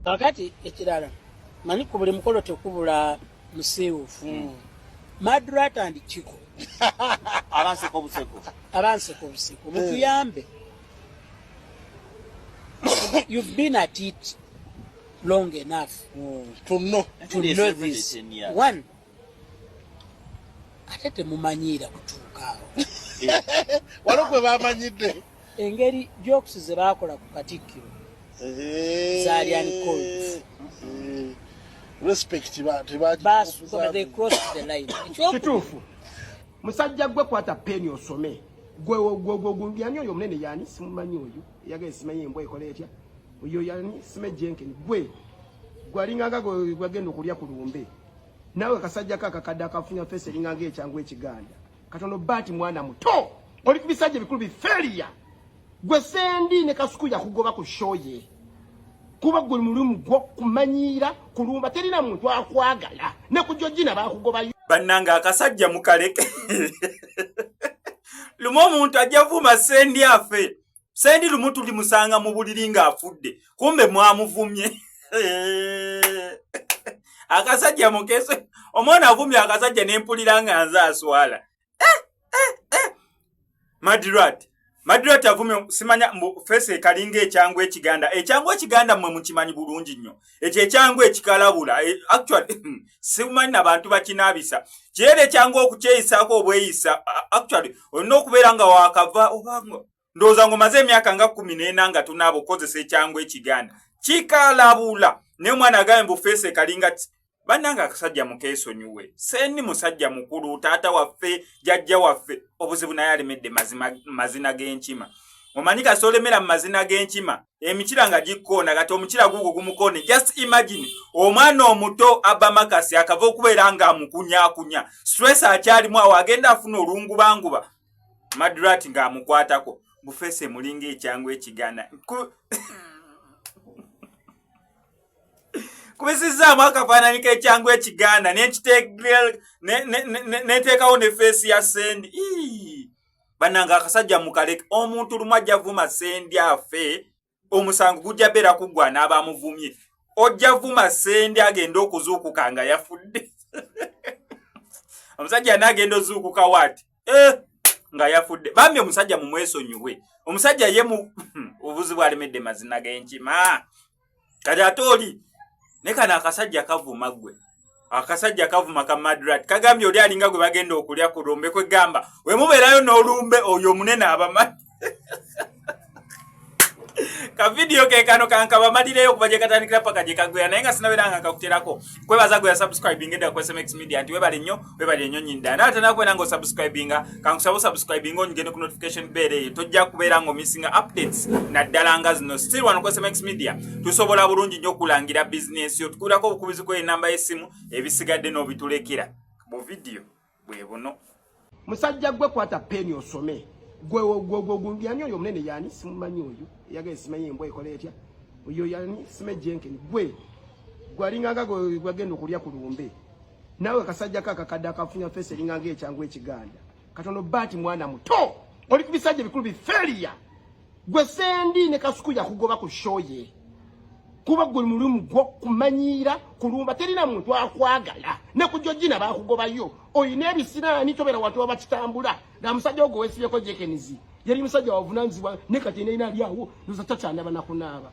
kakati ekirala manyi ku buli mukolo tekubula musiiwufu hmm. madrat and kiko abanseka obuseko abanseka obuseko hmm. mutuyambe you've been at it long enough mm. to know, to know this one ate temumanyiira kutuuka awo walo gwe bamanyidde engeri jokes ze baakola ku katikkiro zalian kituufu musajja gwe kwata peni osome gweyani oyo omunene yani simumanyi oyo eyagala esimanyi embwa ekola etya Oyo yani Sime Jenkins gwe gwalinga nga gwagenda okulya ku lumbe nawe kasajja ka kakadde akafunya fesi eringa nga ekyangu ekiganda katono baati mwana muto oli ku bisajja ebikulu biferiya gwe sendi ne kasuku yakugoba ku shoye kuba gwe mulimu gwo kumanyiira kulumba terina muntu akwagala ne ku jojina bakugobayo bannange akasajja mukaleke lumu omuntu ajja vuma sendi afe sendi lumu tulimusanga mu buliri ng'afudde kumbe mwamuvumye akasajja mukese omwana avumye akasajja nempulira nga nze aswala eh, eh, eh. madirat madirat avumye simanya mbu fesi ekalinga ekyangu ekiganda ekyangu ekiganda mwe mukimanyi bulungi nnyo ekyo ekyangu ekikalabula e, actually simanyi nabantu bakinaabisa kireera ekyangu okukyeyisaako obweyisa actually olina okubeera nga wakava obanga ndowooza ng'omaze emyaka nga kumi n'ena nga tunaaba okukozesa ekyangu ekiganda kikalabula naye omwana agaye mbu feesi ekalinga bannange akasajja mukeesonyiwe sendi musajja mukulu taata waffe jajja waffe obuzibu naye alemedde mazina g'enkima omanyi kasi olemera mu mazina g'enkima emikira nga gikkoona kati omukira guugo gumukoone just imagine omwana omuto abamakasi akava okubeera nga amukunyakunya stress akyalimu awo agenda afuna olungubanguba madrat ng'amukwatako bufeese mulinga ekyangu ekigana kubisizzaamu akafaananyi k'ekyangu ekiganda nenteekawo ne feesi ya sendi bannanga akasajja mukaleke omuntu lumu ajja vuma sendi afe omusango gujja beera kuggwa n'abamuvumye ojja vuma sendi agenda okuzuukuka nga yafudde omusajja yna agenda ozuukuka waati eh, nga yafudde bambi omusajja mumwesonyiwe omusajja ye mu obuzibu alemedde mazina genkima kati ate oli ne kano akasajja kavuma ggwe akasajja kavuma ka madrat kagambye oli alinga gwe bagenda okulya ku lumbe kwegamba we mubeerayo n'olumbe oyo omunene abamani kavidiyo kekano kankabamalireyo okuva gye katandikira paka gye kagwera naye nga sinabeera nga kakuterako kwebaza gwe yasubscribinga edda ku smx media nti webale nnyo webali enyo nyinda naye ate nakubeera nga osubscribinga kankusaba osubscribinga onyigende ku notification bell eyo tojja kubeera nga omissinga updates naddala nga zino still wano ku smx media tusobola bulungi nyo okulangira bizinesi yo tukulirako obukubizi kweyo enamba y'essimu ebisigadde n'obitulekera mu vidiyo bwe buno musajja gwe kwata peni osome gwe yani oyo omunene yani simumanyi oyo eyagaye simanyi embwa ekola etya oyo yani simejenkeni gwe gwalinga nga gwagenda okulya ku lumbe Nawe kasajja kaka kadda kafunya face linga nge changu ekiganda. Katono bati mwana muto. Oli kubisajja bikulu bi failure. Gwe sendi ne kasuku ya kugoba ku show ye. Kuba gwe mulimu gwo kumanyira kulumba terina muntu akwagala. Ne kujojina ba kugoba yo. Oyine ebisira ni tobera watu abakitambula. Na musajja ogwo wesibye ko jekenizi. Yali musajja wavunanzi wa ne katene ina lyawo. Nuza tata ndaba na kunaba.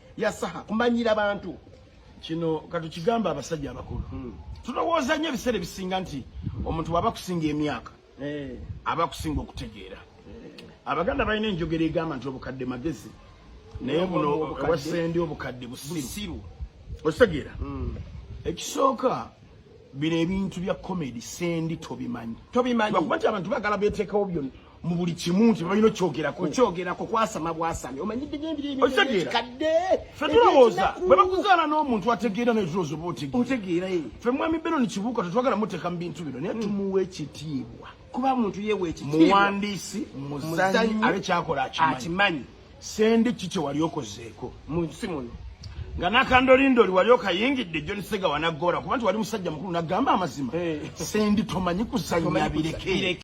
ya saha kumanyira bantu kino katukigamba abasajja abakulu hmm. tulowooza nnyo ebiseera ebisinga nti omuntu waba kusinga emyaka eh. aba kusinga okutegeera eh. abaganda balina enjogera egamba nti obukadde magezi naye buno owasendi obukadde busiru okitegeera hmm. ekisooka bino ebintu bya comedy sendi tobimanyi tobimanyi kuba nti abantu bagala beteekawo byonna mu buli kimu nti balina okyogerako okyogerako kwasama bwasami omanyidde ngebireekadde fe tulowooza bwe bakuzaala n'omuntu ategeera naye tulowooza oba otegeera eh. fe mwami benoni kibuuka tetwagala muteeka mu bintu bino naye hmm. tumuwa ekitiibwa kuba muntu yewa ekitiibwa muwandiisi muzanyi abe kyakola akimanyi sendi ki kye wali okozeeko mu nsi muno nga nakandolindoli wali okayingidde john sega wanagoola kuba nti wali musajja mukulu nagamba amazima eh. sendi tomanyi kuzannya bireke